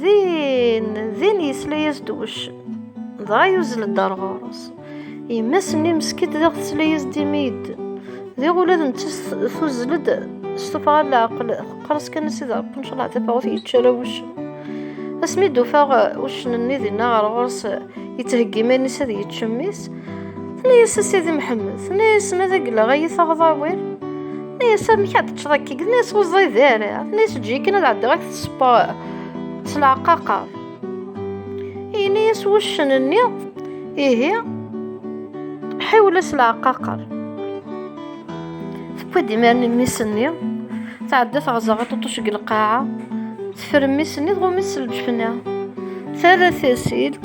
Din, din yesla-yas-d uccen. Dɣa yuzzel-d ar ɣur-s. Yemma-s-nni meskint diɣ tesla-yas-d imi yedden. Diɣ ula d netta tuzzel-d s tuffɣa n leɛqel, teqqers kan s iderqen cleɛ tafawet yečča la wuccen. Asmi d-ufaɣ uccen-nni dinna ɣer ɣur-s, yettheggi iman-is ad yečč mmi-s, Tenna-yas a Sidi Mḥemmed, tenna-yas ma d agleɣ ay taɣḍawir. Tenna-yas amek ad teččeḍ akka, tenna-yas ur ẓid ara, tenna-yas eǧǧ-iyi kan ad ɛeddiɣ ak tespeṛ s leɛqaqer. Yenna-yas wuccen-nni, ihi ḥiwel-as leɛqaqer. Tewwi-d imaren mmis-nni, tɛedda teɣẓer aṭuṭuc deg lqaɛa, teffer mmis-nni tɣum-it s lǧefna. Terra tasilt,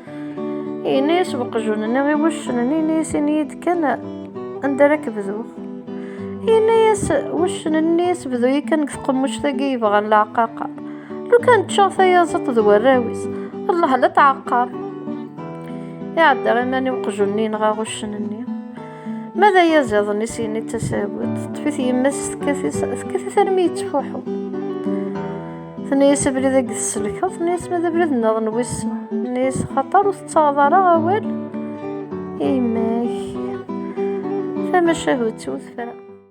Ini-s uqjun-nni i wuccen-nni, ini-s ini-yi-d kan anda ara k-bduɣ. Ini-yas wuccen-nni sbdu-yi kan deg tqemmuct-agi yebɣan leɛqaqa. Lukan ččeɣ tayaẓiṭ d warraw-is, Allah la tɛeqqar. Iɛedda iman i uqjun-nni yenɣa wuccen-nni. Ma d ayaziḍ-nni s yini d tasabut, teṭṭef-it yemma-s tekkat-it armi yettfuḥu. Tenna-yas abrid agi tesselkeḍ, tenna-yas ma d abrid nniḍen wis, tenna-yas xaṭer ur tettaɣeḍ ara awal i yemma-k. Tamacahut-iw tefra.